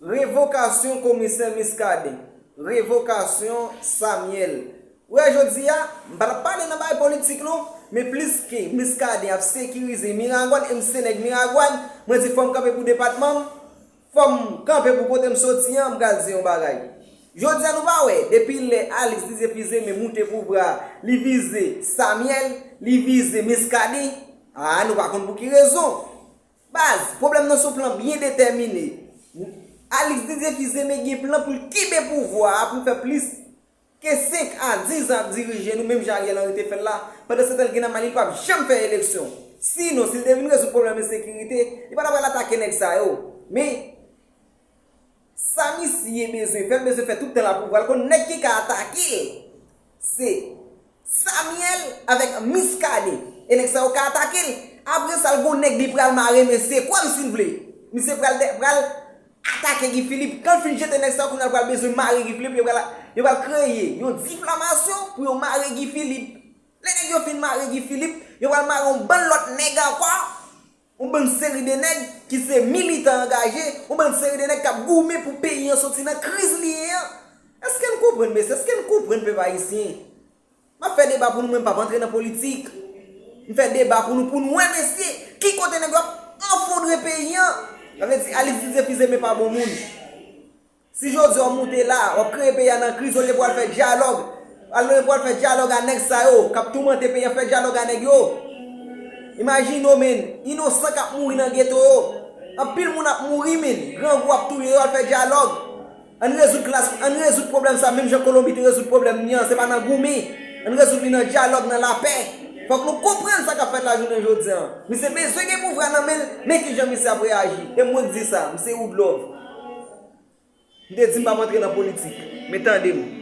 Revokasyon komisè Muscadin. Revokasyon Samuel. Ou wè jodi a, m pa tap pale nan bagay politik non, men pliske Muscadin ap sekirize Miragwàn e m se nèg Miragwàn, mwen di fò m kanpe pou depatman m, fò m kanpe pou kote m soti an, m pral di yon bagay. Jodi a nou pa wè, depi lè Alix Didier Fils-Aimé moute pouvwa a, li vize Samuel, li vize Muscadin, a nou pa konn pou ki rezon. Baz, pwoblèm nan son plan byen detèmine. Alix Didier Kizé me gen plan pou l kenbe pouvwa a pou l fè plis ke 5 a 10 zan ap dirije nou menm jan Ariel Henry te fè l la, pandansetan l gen nan may li li pap janm fè eleksyon. Sinon, si l te vin rezoud pwoblèm ensekirite, li pa ta pral atake nèg sa yo. Men. Sa misye bezwen fè, l bezwen fè tout tan l ap pouvwa l konn nèg ki ka atake l se Samuel avèk Muscadin e nèg sa yo ka atake l apre sa l gon nèg li pral mare men se kwè m si l vle misye pral pral atake Guy Philippe kan l fin jete nèg sa yo kounya l pral bezwen mare Guy Philippe yo pral yo pral kreye yon diflamasyon pou yo mare Guy Philippe lè nèg yo fin mare Guy Philippe yo pral mare yon bann lòt nèg ankò. Yon bann seri de nèg ki se militan angaje, yon bann seri de nèg k ap goumen pou peyi an soti nan kriz li ye an. Eske n konprann mesye? Eske n konprann pèp ayisyen? M ap fè deba pou nou mwen m p ap antre nan politik. M fè deba pou nou pou n wè mesye ki kote nèg yo ap anfondre peyi an. Sa vle di Alix Didier Fils-Aimé pa bon moun. Si jodi a w moute la, w ap kreye peyi a nan kriz olye pou w al fè dyalòg olye pou w al fè dyalòg a nèg sa yo k ap toumante peyi a fè dyalòg a nèg yo imajine w menn inosan k ap mouri nan geto yo anpil moun ap mouri min grangou ap touye yo al fè dyalòg ann rezoud klas ann rezoud pwoblèm sa menm jan kolonbi te rezoud pwoblèm li an se pa nan goumi ann rezoud li nan dyalòg nan lapè fòk nou konprann sa k ap fèt la jounen jodi an misye bezwen gen pouvwa nan men l men kijan misye ap reyaji e mwen k di sa misye woodlove. M te di m pap antre nan politik, men tande m.